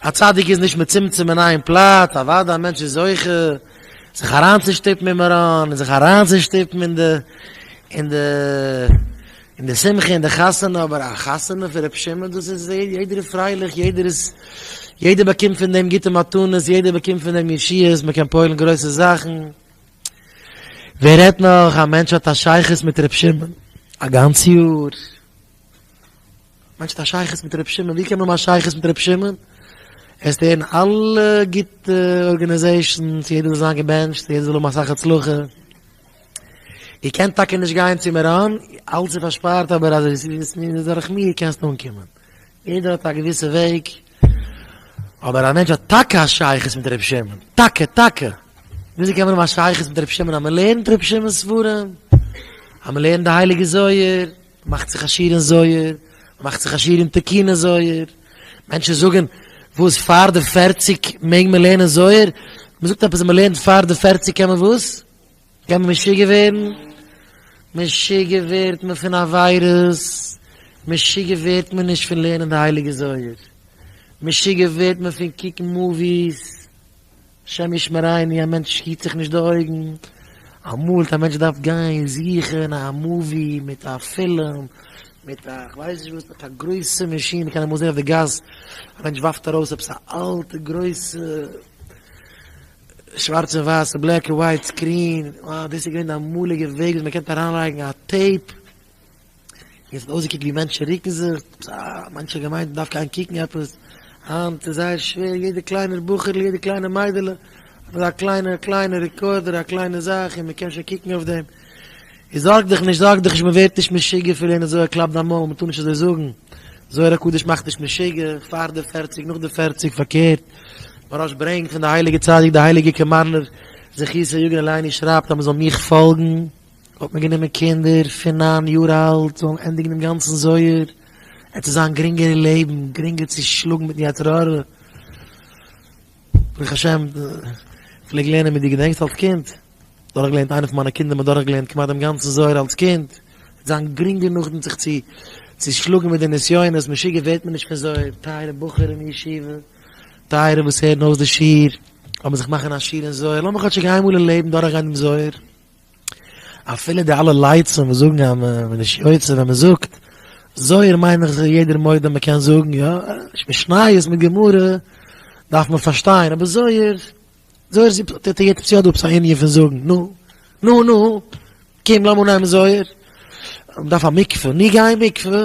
א צדיק איז נישט מצומצם אין איין פלאץ, אוודאי א מענטש איז זוכה זיך אריינצושטופן אין מירון, און זיך אריינצושטופן אין די אין די אין די שמחה אין די חתונה, אבער א חתונה פון רבי שמעון דאס איז יעדער איז פרייליך, יעדער איז יעדער באקומט פון דעם גוטע מתנות, יעדער באקומט פון דעם ישועות, מען קען פועל'ן גרויסע זאכן. ווער רעדט נאך א מענטש האט א שייכות מיט רבי שמעון א גאנץ יאר, מיינסט א שייכות מיט רבי שמעון? ווי קען מען האבן א שייכות מיט רבי שמעון? עסט הערן אלע גוטע ארגענעזעישאנס, יעדער זאל זיין געבענטשט, יעדער זאל האבן אסאך הצלחה. איר קענט טאקע נישט גיין צו מירון, אלץ איז פארשפארט אבער אז עס איז דורך מיר קענסטו אנקומען. יעדער האט א געוויסע וועג. אבער א מענטש האט טאקע א שייכות מיט רבי שמעון? טאקע טאקע! וויאזוי קען מען האבן א שייכות מיט רבי שמעון אז מען לערנט רבי שמעון'ס ספרים, אז מען לערנט די הייליגע זוהר, מאכט זיך עשיר אין זויער, מאכט זיך עשיר אין תקינה זויער, מענטשן זאגן וואס פאר די פערציג מעג מען לערנען זויער, מען זאגט עפעס אז מען לערנט פאר די פערציג קען מען וואס? קען מען משוגע ווערן, משוגע ווערט מען פון עבירות, משוגע ווערט מען נישט פון לערנען די הייליגע זויער, משוגע ווערט מען פון קוקן מאוויס. השם ישמריני א מענטש היט זיך נישט די אויגן, אמאל וועט א מענטש דארף גיין זוכן א מאווי מיט א פילם מיט א כ'ווייס נישט וואס, מיט א גרויסע מאשין, מ'קען אמאל זען אויף די גאס א מענטש ווארפט ארויס עפעס א אלטע גרויסע שווארץ און ווייסע בלעק און ווייט סקרין, אה דאס איז געווען די אמאליגע וועג וואס מ'קען אריינלייגן א טעיפ, און עס האט אויסגעקוקט ווי מענטשן רוקן זיך, מאנכע האבן געמיינט מען דארף גיין קוקן עפעס, היינט איז זייער שווער, יעדע קליינער בחור'ל, יעדע קליינע מיידעלע האט אזא קליינע קליינע רעקארדער, א קליינע זאך און מען קען שוין קוקן אויף דעם, און זארג דיך נישט, זארג דיך נישט, מען ווערט נישט משוגע פון לערנען זוהר, קלאפ דיין מויל, מען טאר נישט אזוי זאגן, זוהר הקדוש מאכט נישט משוגע, פאר די פערציג, נאך די פערציג, פארקערט, מוהרא ש ברענגט פון די הייליגע צדיק, די הייליגע קאמארנער זכותו יגן עלינו שרייבט אז מען זאל מיך פאלגן. האט מען גענומען קינדער פון נײַן יאר אלט זאלן ענדיגן דעם גאנצן זוהר, עס צו זיין גרינגער אין לעבן, גרינגער צו שלאגן מיטן יצר הרע. ברוך השם, כ'פלעג לערנען מיט דיר, געדענקסט אלס קינד? דורכגעלערנט, איינער פון מיינע קינדער האט מיר דורכגעלערנט כמעט דעם גאנצן זוהר אלס קינד, עס וועט זיין גרינגער נאכדעם זיך צו צו שלאגן מיט די נסיונות, משוגע ווערט מען נישט פון זוהר, טייערע בחור אין ישיבה, טייערע וואס הערן אויס די שיעור, לאמיר זיך מאכן א שיעור אין זוהר, לאמיר כאטשיג איינמאל אין לעבן דורכגיין דעם זוהר. אפילו די אלע לייצן וואס זאגן אז מען איז נישט יוצא ווען מען זאגט זוהר מיין איך זיך יעדער מודה מען קען זאגן יא, נישט משניות מיט גמרא דארף מען פארשטיין אבער זוהר, זוהר איז יעצט יא דא עפעס א ענין פון זאגן נו נו נו קום לאמיר נעמען זוהר, מען דארף א מקווה, נו גיי אין מקווה.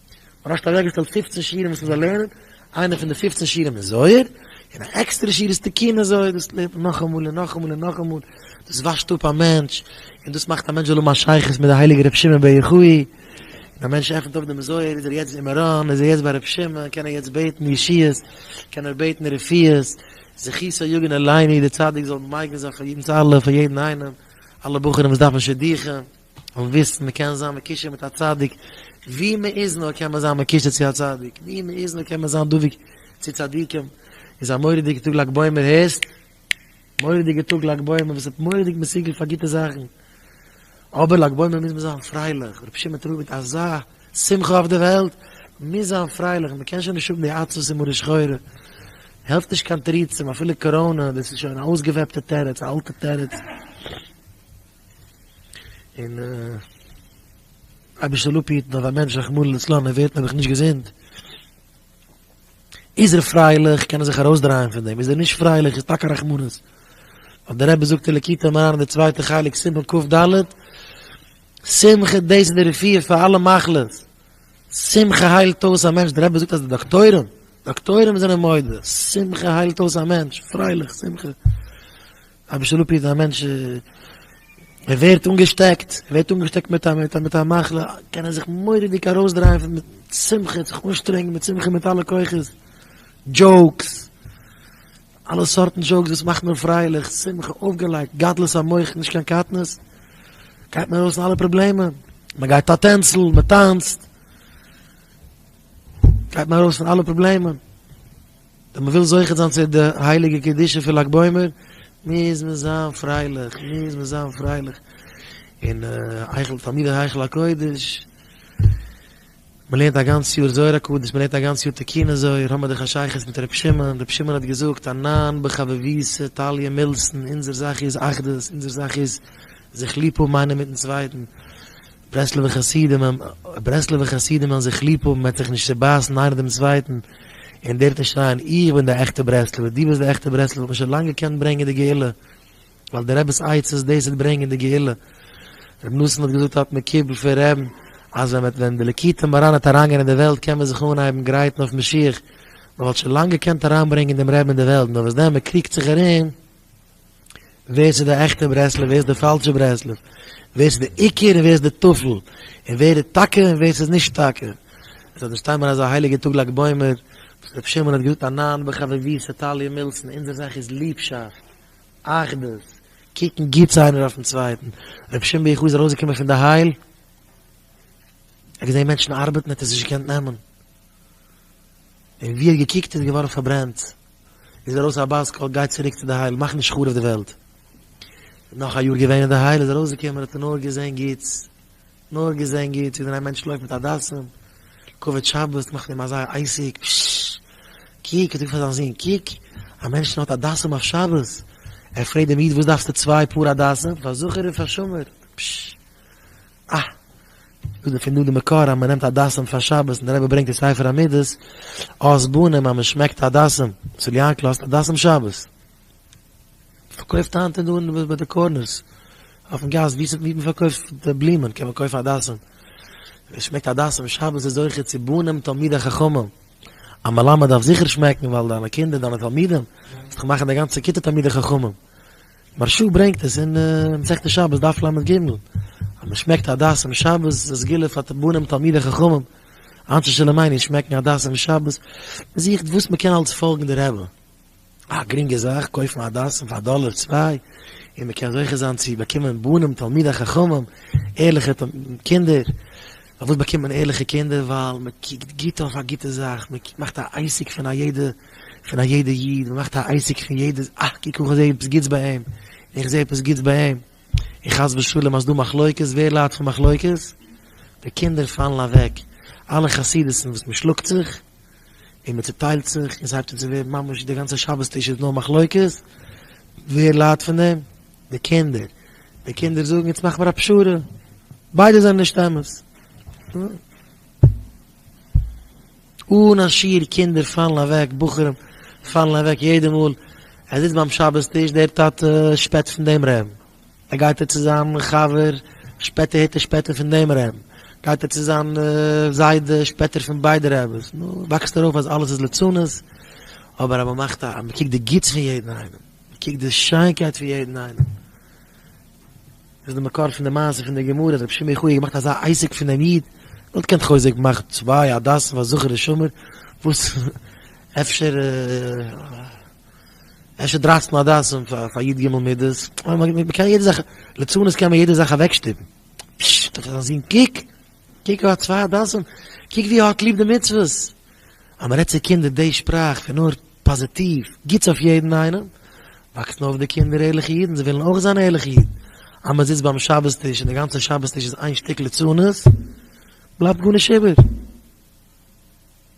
און האסט אוועקגעשטעלט פופצן שיעורים וואס מ'זאל לערנען, איינע פון די פופצן שיעורים איז זוהר, און א עקסטערע שיעור איז תיקוני זוהר, דאס לערנט מען נאכאמאל און נאכאמאל און נאכאמאל, דאס וואשט אפ א מענטש, און דאס מאכט א מענטש זאל האבן א שייכות מיט די הייליגע ר' שמעון בר יוחאי, ווען א מענטש עפנט אויף דעם זוהר איז ער יעצט אין מירון, איז ער יעצט ביי ר' שמעון, קען ער יעצט בעטן ישועות, קען ער בעטן רפואות, זכותו יגן עלינו דער צדיק זאל מגן זיין פאר יעדנס אלע, פאר יעדן איינעם, אלע בחורים וואס דארפן שידוכים. און וויסן מען קען זיין מקושר מיט א צדיק, ווי מען איז נאר קען מען זיין מקושר צו א צדיק, ווי מען איז נאר קען מען זיין דבוק צו צדיקים, איז א מורא'דיגע טאג לג בעומר הערסט? מורא'דיגע טאג לג בעומר וואס האט מורא'דיג מסוגל פאר גוטע זאכן, אבער לג בעומר מוז מען זיין פרייליך, רבי שמעון טרויבערט אזא שמחה אויף די וועלט, מען מוז זיין פרייליך, מען קען שוין נישט האבן די עצבות און מרה שחורה, העלפט נישט קיין תירוצים אפילו קאראנע, דאס איז שוין א אויסגעוועפטע תירוץ, א אלטע תירוץ. און אבי זאל אפהיטן אז א מענטש רחמנא לצלן ער ווערט נעבעך נישט געזונט, איז ער פרייליך קען ער זיך ארויסדרייען פון דעם, איז ער נישט פרייליך איז טאקע רחמנות, ווייל דער רבי זאגט אין ליקוטי מוהר ן די צווייטע חלק סימן קפ ד, שמחה דאס איז די רפואה פאר אלע מחלות, שמחה היילט אויס א מענטש, דער רבי זאגט אז די דאקטוירים, דאקטוירים זענען מודה, שמחה היילט אויס א מענטש, פרייליך, שמחה. אביסל לפיד איז א מענטש ער ווערט אנגעשטעקט ער ווערט אנגעשטעקט מיט א מיט א מחלה קען ער זיך מוראדיג ארויסדרייען מיט שמחה זיך אנשטרענגן מיט שמחה מיט אלע כוחות דזשאוקס אלע סארטן דזשאוקס וואס מאכט מיר פרייליך שמחה אויפגעלייגט גדלות המוח נישט קיין קטנות גייט מען ארויס פון אלע פראבלעמען מען גייט א טענצל מען טאנצט גייט מען ארויס פון אלע פראבלעמען ווען מ'וויל זוכה זיין צו די הייליגע קדושה פון לג בעומר, מוז מען זיין פרייליך, מוז מען זיין פרייליך, און היכל תלמידי היכל הקודש, מ'לערנט א גאנץ יאר זוהר הקדוש, מ'לערנט א גאנץ יאר תקינא זוהר, האבן מיר דאך א שייכות מיט רבי שמעון, רבי שמעון האט געזאגט, ענן בחביביתא תליא מילתא, אונזער זאך איז אחדות, אונזער זאך איז זיך ליב האבן איינער מיט'ן צווייטן. ברסלב'ע חסידים האבן ברסלב'ע חסידים וועלן זיך ליב האבן מ'וועט זיך נישט צובייסן איינער דעם צווייטן און דער וועט שרייען איך בין די עכטע ברסלב'ע די ביסט די עכטע ברסלב'ע האט מען שוין לאנג געקענט ברענגען די גאולה ווייל די רב'ס עצות דאס וועט ברענגען די גאולה רבי נתן האט געזאגט האט מען קיבל פון רב'ן אז ווען מ'וועט ווען די ליקוטי מוהראן וועט אריינגיין אין די וועלט קען מען זיך אנהייבן גרייטן אויף משיח מ'וואלט שוין לאנג געקענט אריינברענגען דעם רב'ן אין די וועלט נאר וואס דען מ'קריגט זיך ארום. ווער ס'איז די עכטע ברסלב ווער ס'איז די פאלשע ברסלב, ווער ס'איז די עיקר און ווער איז די טפל, און ווער איז טאקע און ווער ס'איז נישט טאקע. עס האט נישט טעם אזא הייליגע טאג לג בעומר, וואס ר' שמעון האט געזאגט א ניין בחביבי סטאליע מילסן, אונזער זאך איז ליבשאפט, אחדות, קוקן גוטס איינער אויפן צווייטן, ר' שמעון ביה ח איז ארויסגעקומען פון די הייל, ער האט געזען מענטשן ארבעטן ער האט עס נישט געקענט נעמען, און ווי ער האט געקוקט איז געווארן פארברענט. איז ארויס א בת קול גיי צוריק צו די הייל מאך נישט חרוב די וועלט. נאך א יאר געווען אין די הייל איז ארויס געקומען האט ער נאר געזען גוטס נאר געזען גוטס ווי אזוי א מענטש לויפט מיט א דאסן כבוד שבת מאכט אים אזא עסק פששש קוק האט ער געזאגט פאר זיין זון קוק א מענטש נאט א דאסן אויף שבת ער פרעגט דעם איד וואס דארפסטו צוויי פאר א דאסן פאר זכר און פאר שמור פששש אה! איז דערפון דא די מקור אז מ'נעמט הדסים פאר שבת און די רבי ברענגט אין ספר המידות אויס בנים אז מ'שמעקט הדסים, צל יעקל האסט הדסים שבת? מ'פארקויפט היינט אין דא אין ביי די קארנערס אויפן גאס ווי ס'ווי מ'פארקויפט די בלומען קען מען קויפן הדסים, ווער ס'שמעקט הדסים שבת איז זוכה צו בנים תלמידי חכמים, א מלמד דארף זיכער שמעקן ווייל דיינע קינדער דיינע תלמידים וועסט דאך מאכן די גאנצע כיתה תלמידי חכמים, מהרש א ברענגט עס אין מסכת שבת דף לג אז מען שמעקט הדס אום שבת זו סגולה פאר בנים תלמידי חכמים, אנשי שלומינו שמעקן הדס אום שבת, מען זוכט וואס מען קען אלץ פאלגן די רבי, א גרינגע זאך קויפן הדסים פאר א דאלער צוויי און מען קען זוכה זיין צו באקומען בנים תלמידי חכמים, ערליכע קינדער, פארוואס באקומט מען ערליכע קינדער ווייל מען קוקט גוט אויף א גוטע זאך, מען מאכט א עסק פון א יעדע. פון א יעדע איד, מען מאכט א עסק פון יעדעס, אה קוק איך זעה עפעס גוטס ביי אים, איך זעה עפעס גוטס ביי אים, און חס ושלום אז דא מחלוקת, ווער ליידט פון מחלוקת? די קינדער פאלן אוועק, אלע חסידות'ן וואס מען שלאגט זיך, און מען צוטיילט זיך, און ס'הייבט אן צו ווערן ממש די גאנצע שבת טיש איז נאר מחלוקת, ווער ליידט פון דעם? די קינדער, די קינדער זאגן יעצט מאך מיר א פשרה, ביידע זענען נישט אמת, נו. אן א שיעור קינדער פאלן אוועק, בחורים פאלן אוועק יעדע מאל ער זיצט ביים שבת טיש, דער טאטע שפעט פון דעם רעם, ער גייט ער צו זיין חבר שפעטער הערט ער שפעטער פון דעם רעם, גייט ער צו זיין זיידע שפעט ער פון ביידע רעבעס, נו, וואקסט ארויף אז אלעס איז לצנות, אבער אז מען מאכט א, מען קוקט די גוטס פון יעדן איינעם, מען קוקט די שיינקייט פון יעדן איינעם, וואס איז די מקור פון די מעשה פון די גמרא אז רבי שמעון יוחאי האט געמאכט אזא עסק פון דעם איד? נאט קענט חוזק מאכט צוויי הדסים פאר זכור ושמור וואס אפשר אפשר דרייצן הדסים פאר י ג מידות מ'קען יעדע זאך לצנות קען מען יעדע זאך אוועקשטופן פשששט האט ער זיין זון קוק קוק ער האט צוויי הדסים קוק ווי ער האט ליב די מצוות אז מ'רעדט צו קינדער די שפראך פון נאר פאזיטיוו, גוטס אויף יעדן איינעם, וואקסן אויף די קינדער ערליכע אידן, זיי וועלן אויך זיין ערליכע אידן, אז מען זיצט ביים שבת טיש און די גאנצע שבת טיש איז איין שטיק ליצנות, בלייבט גארנישט איבער,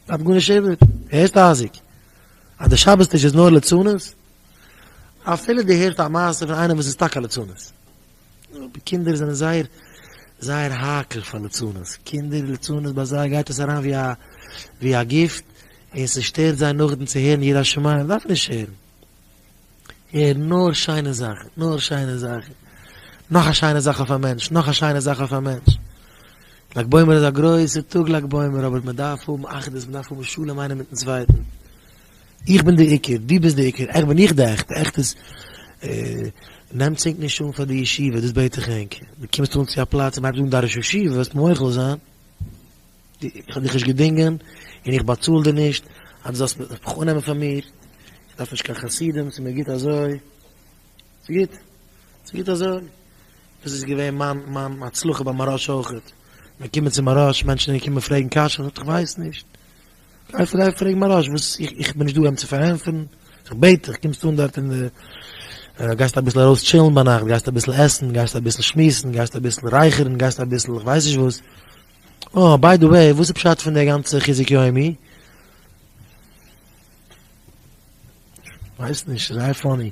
בלייבט גארנישט איבער, הערסט אייזיק? אז די שבת טיש איז נאר ליצנות? אפילו דו הערסט א מעשה פון איינעם וואס איז טאקע א ליצנות. אבער קינדער זענען זייער זייער האקעל פאר ליצנות, קינדער ליצנות ביי זיי גייט עס אריין ווי א גיפט, און ס'שטערט זיי נאכדעם צו הערן יראת שמים, דארף נישט הערן, הער נאר שיינע זאכן, נאר שיינע זאכן, נאך א שיינע זאך אויף א מענטש, נאך א שיינע זאך אויף א מענטש, לג בעומר איז א גרויסע טאג לג בעומר, אבער מען דארף האבן אחדות, מען דארף האבן שלום איינער מיטן צווייטן. איך בין די עיקר, דו ביסט די עיקר, עכט בין איך די עכטע, עכט איז נעמטס ענק נישט אן פאר די ישיבה, דאס בעט איך ענק, דו קומסט אן צו א פלאץ און מ'הייבט אן די ראש ישיבה וועסט מוחל זיין, איך האב דיך נישט געדינגען און איך באצאל דיר נישט אז דו זאלסט מיך אננעמען פאר מיר, איך דארף נישט קיין חסידים, ס'איז מיר גוט אזוי, ס'איז גוט, ס'איז גוט אזוי, דאס איז געווען מיין מיין הצלחה ביי מהראש אויך, מ'קומען צום מהראש, מענטשן זענען געקומען פרעגן קשיות, איך ווייס נישט. גיי פרעג פרעג מרש וואס איך בין נישט דא אים צו פארענטפערן, איך בעט דיך קומסט אן דארט אין די גייסט אביסל ארויס טשילן ביינאכט, גייסט אביסל עסן, גייסט אביסל שמועסן, גייסט אביסל רייכערן, גייסט אביסל איך ווייס נישט וואס, אה ביי די וועי וואס איז פשט פון די גאנצע חיזוק יומי? ווייס נישט, ס'איז זייער פאני.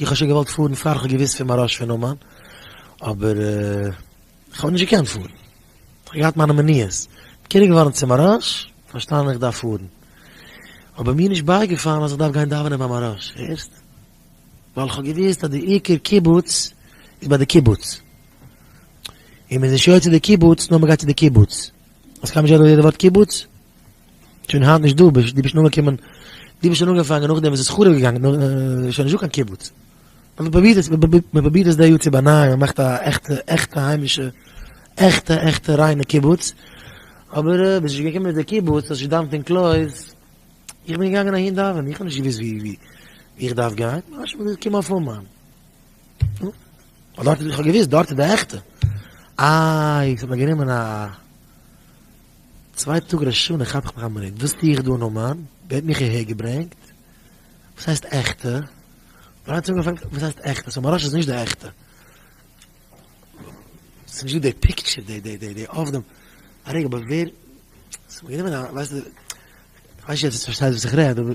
איך האב שוין געוואלט פארן פאר איך האב געוואוסט פון מהרש פון אומאן, אבער איך האב נישט געקענט פארן, איך האב געהאט מיינע מניעות, קירוב געווארן צום מהרש, פארשטאנען איך דארף פארן, אבער מיר נישט בייגעפאלן אז איך דארף גיין דאווענען ביים מהרש, הערסט? ווייל איך האב געוואוסט אז די עיקר קיבוץ איז ביי די קיבוץ, און מען איז נישט יוצא די קיבוץ נאר מען גייט צו די קיבוץ, אז כ'האב נישט געהערט דאס יעדע ווארט קיבוץ. שוין היינט נישט דא, דו ביסט נאר געקומען, דו ביסט שוין אנגעפאנגען נאכדעם וואס ס'איז חרוב געגאנגען, איז שוין נישט דא קיין קיבוץ. אבער מ'פרובירט עס, מ'פרובירט עס די יאר צו באנייען, מ'מאכט א עכטע עכטע היימישע, עכטע עכטע ריינע קיבוץ, אבער ביז'ס געקומען אין די קיבוץ האסט נישט געדאוונט אין קלויז, איך בין געגאנגען אהין דאווענען, איך האב נישט געוואוסט ווי איך דארף גיין, ממש מ'איז געקומען אויף אומאן. ווייל דארט, איך האב געוואוסט דארט איז די עכטע. איי, ס'האט מיר גענומען א. צוויי טאג ראש השנה כאפ איך מיך א מינוט, וואס טו איך דא אין אומאן? ווער האט מיך אהער געברענגט? וואס הייסט עכטע? דריי צונגען פאלגן, וואס הייסט עכטע? סאו מיין ראש איז נישט די עכטע? ס'איז נישט דא די פיקטשער, די די די די אב ד? א רגע, אבער ווער? ס'איז מיר גענומען א, ווייסטו, כ'ווייס נישט צו דו פארשטייסט וואס איך רעד, אבער.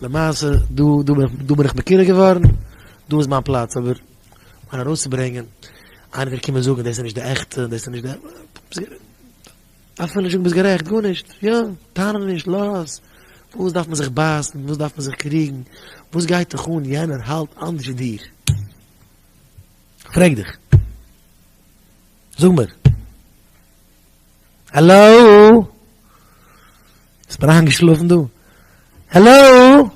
למעשה דא דא בין איך מכיר געווארן דא איז מיין פלאץ אבער מיין ארויסצוברענגען איינער וועט קומען זאגן דאס איז נישט די עכטע דאס איז נישט די דארף מען נישט זאגן ביסט גערעכט גארנישט יא טענה נישט לאז וואס דארף מען זיך בייסן וואס דארף מען זיך קריגן וואס גייט דיך אן יענער האלט אנדערש ווי דיר פרעג דיך זאג מיר האלאו ביסט מיר איינגעשלאפן דא? העלאו!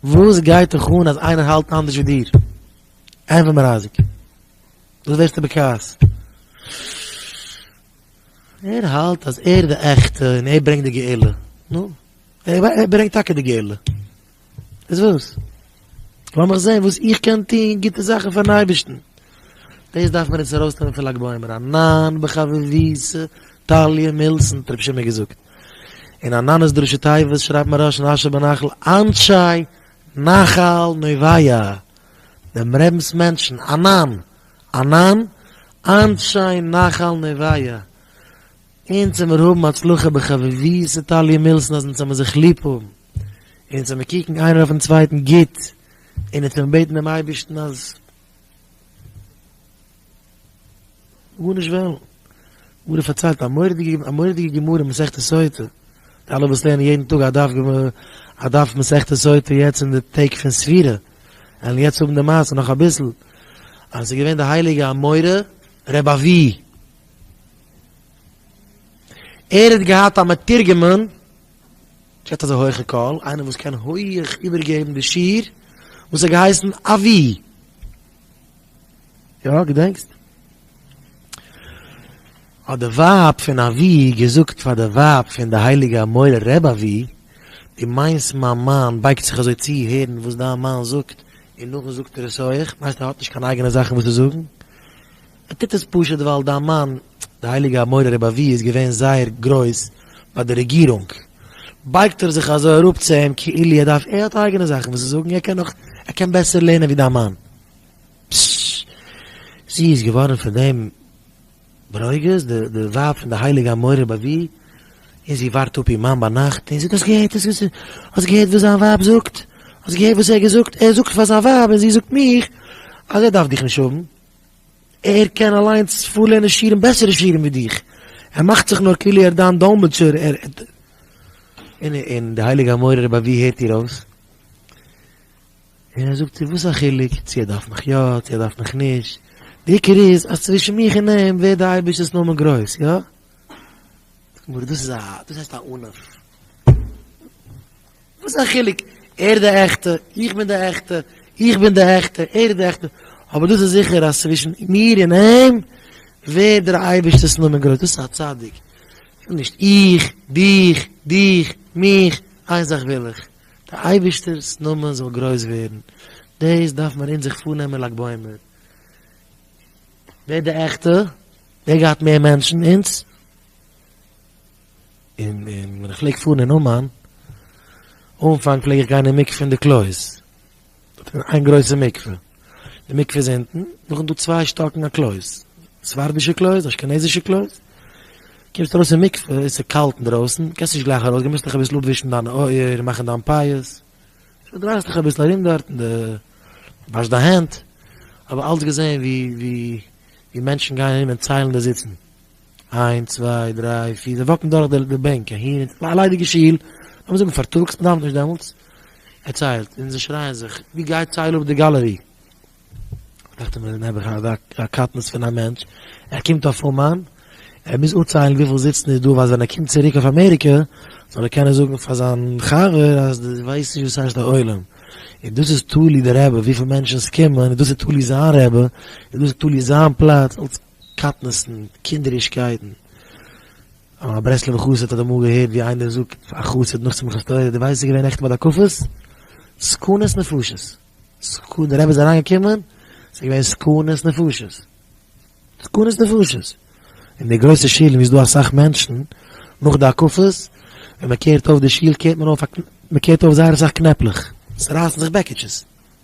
וואס גייט דיך אן אז איינער האלט אנדערש ווי דיר? ענפער מיר אייזיק. וואס ווערסטו בכעס? ער האלט אז ער איז די עכטע און ער ברענגט די גאולה. נו, ער ברענגט טאקע די גאולה. איז וואס? לאמיך זען וואס איך קען טון גוטע זאכן פארן אייבערשטן. דאס דארף מען אונז ארויסנעמען פון לג בעומר, א ניין בחביבות טליא מילסן האט רבי שמעון געזאגט. אין א נאנעס דרשו טייבעס שרייבט מהרש ן אשר בנחל אנשי נחל נוביא, דעם רבינ'ס מענטשן, א ניין, א ניין, אנשי נחל נוביא, אונז זעמיר האבן הצלחה בחביבות טליא מילסן אז אונז זעמיר זיך ליב האבן. אונז זעמיר קוקן איינער אויפן צווייטן גוט, און אונז וועלן בעטן דעם אייבערשטן אז גארנישט וועלן. גמרא פארציילט א מורא'דיגע א מורא'דיגע גמרא אין מסכת סוטה, די אלע וואס לערנען יעדן טאג א דף גמ' א דף מסכת סוטה יעצט אין די טעג פון ספירה, וועלן יעצט האבן די מעשה נאך אביסל, אז ס'איז געווען די הייליגע אמורא רב אבי, ער האט געהאט א מתורגמן, געט אזא הויכע קול, איינער וואס קען הויעך איבערגעבן די שיר וואס האט געהייסן אבי! יא געדענקסט? האט די ווייב פון אבי געזאגט פאר די ווייב פון די הייליגע אמורא רב אבי, דו מיינסט מיין מאן בייגט זיך אזוי צו הערן וואס דיין מאן זאגט און נאכדעם זאגט ער עס אויך, מיינסט ער האט נישט קיין אייגענע זאכן וואס צו זאגן? ער טוט עס פשוט ווייל דיין מאן די הייליגע האדמורי רבי אבי איז געווען זייער גרויס ביי די רעגירונג, בייגט ער זיך אזוי אראפ צו אים כאילו ער דארף ער האט אייגענע זאכן וואס צו זאגן ער קען נאך ער קען בעסער לערנען ווי דיין מאן. פששש זי איז געווארן פון דעם ברוגז די די ווייב פון די הייליגע האדמורי רבי אבי און זי ווארט אפ איר מאן ביינאכט און זאגט האסט געהערט האסט געזען האסט געהערט וואס זיין ווייב זאגט האסט געהערט וואס ער האט געזאגט ער זאגט פאר זיין ווייב און זי זאגט מיך אז ער דארף דיך נישט האבן. ער קען אליינס פארלערנען שירים בעסערע שירים ווי דיך, ער מאכט זיך נאר כאילו ער איז דיין דאלמעטשער, און די הייליגע אמורא רב אבי הערט איר אויס, און ער זאגט איר וואס א חילוק צו ער דארף מיך יא צו ער דארף מיך נישט, די עיקר איז אז צווישן מיך און אים ווערט די אייבערשטענס נאמען גרויס, יא? דאס הייסט א ענף. וואס איז א חילוק, ער איז די עכטע, איך בין די עכטע, איך בין די עכטע, ער איז די עכטע, אבער דאס איז זיכער אז צווישן מיר און אים ווערט דער אייבערשטער'ס נאמען גרויס, דאס איז א צדיק, וויל נישט איך, דיך, דיך, מיך, איין זאך וויל איך, די אייבערשטער'ס נאמען זאל גרויס ווערן, דאס דארף מען אין זיך פארנעמען לג בעומר, ווער די עכטע, ווער געהאט מער מענטשן, אונז? און ווען איך פלעג פארן אין אומאן, אנפאנג פלעג איך גיין אין מקווה אין די קלויז, דארט איז איין גרויסע מקווה, די מקווה איז אונטן, נאכדעם איז דא צוויי שטאקן א קלויז, ספרדישע קלויז, אשכנזישע קלויז, קומסט ארויס אין מקווה, עס איז קאלט אינדרויסן, קענסט נישט גלייך ארויס גיין, מוזט דיך אביסל אפווישן דיינע אויער, מאכן דיין פאות, שוין דרייסט דיך אביסל ארום דארט, און די וואשט דיין הענט, האב אלץ געזען ווי מענטשן גייען ארום און ציילן די זיצן. איינס צוויי דריי פיר זיי וואקן דורך די בענק אהין און צו א ליידיגע שול לאמיר זאגן פארטאגס מען דארף נישט דעמאלטס ער ציילט און זיי שרייען זיך ווי גייט צייל אפ די גאלערי דאכט מיר נעבעך א קטנות פון א מענטש ער קומט אויף אומאן ער מוז אפציילן וויפיל זיצן איז דא אז ווען ער קומט צוריק אויף אמעריקע זאל ער קענען זאגן פאר זיין חבר אז דו ווייסט נישט וואס הייסט א עולם און דאס איז תלוי די רבי וויפיל מענטשן ס'קומען און דאס איז תלוי זיין רבי און דאס איז תלוי זיין פלאץ אלס קטנות'ן, קינדערישקייטן. א ברסלב'ע חסיד האט אמאל געהערט ווי איינער זאגט א חסיד נאך שמחת תורה, דו ווייסט ס'איז געווען נעכטן ביי די הקפות? סכנת נפשות! סכ די רבי איז אריינגעקומען, ס'איז געווען סכנת נפשות! סכנת נפשות! אין די גרויסע שילן ווי ס'איז דא אסאך מענטשן, נאך די הקפות, ווען מ'קערט אויף די שול קערט מען אויף א קנ, מ'קערט אויף זייער אסאך קנעפלעך, ס'רייסן זיך בעקיטשעס.